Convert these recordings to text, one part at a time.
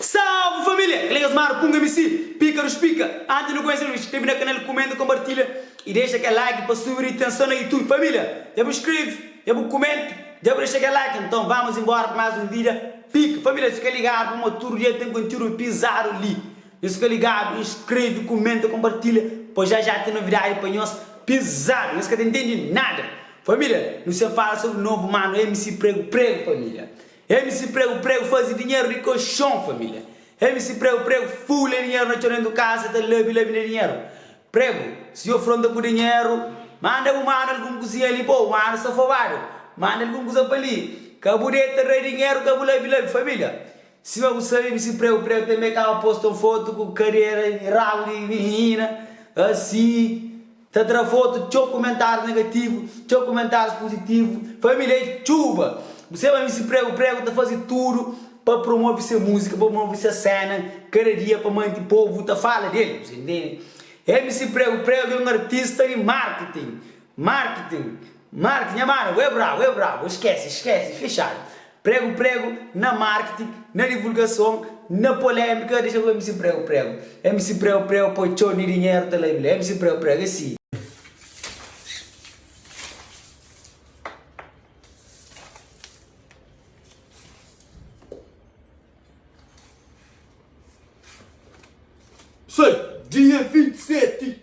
Salve família! Kel es mar punga mi si pika nos pika anti nu konhese el nu skrebe na kanal kumenta konpartilha i dexa kel like pa subi di tenson na youtube família dja bu skrebe dja bu kumenta dja bu dexa kel like nton vamos inbora pa más un vida pika família fika ligadu pamó tudu dia ten kontiúdu pizadu li. Nhos fika ligadu, inskreve, kumenta, konpartilha pa ja ja ten novidadi pa nhos pizadu nhos ka ta intendi nada familia nu sen fala sobri novo manu MC prego prego familia MC prego prego fazi dinheru di koxon familia MC prego prego fule dinheru na txon dentu kasa ta labi labi na dinheru prego si yo fronta ku dinheru manda bu manu algun kuzinha li pa u manu safobadu manda algun kuza pa li ka bu deta ra dinheru ka bu labi labi familia. Sima bu sabe mi si preu preu tanbe kaba posta un fotu ku karera y rabu di minina asi ta tra fotu txeu kumentarus negativu txeu kumentarus puzitivu familia e txuba bu sabe ma mi si preu preu ta fazi tudu pa promovi se musika pa promovi se sena kada dia pa manti povu ta fala del bu sa intende e mi si preu preu é un artista di marketing marketing marketing nha mano é brabu é brabu skese skese fixadu Pregu-pregu na marketing, na divulgason, na polémika, dexa ku MC Pregu-pregu. MC Pregu-pregu poi txon di dinheru ta la i bla. MC Pregu-pregu é si. Soi dia 27.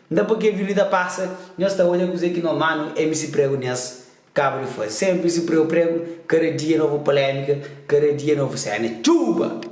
N ta pâpia vilu i ta pasa Nhos ta odja kuzê ki no manu M si pregu nhas kaba di faze Sénpri si preu pregu Kada dia novu polémika Kada dia novu séna Txuba!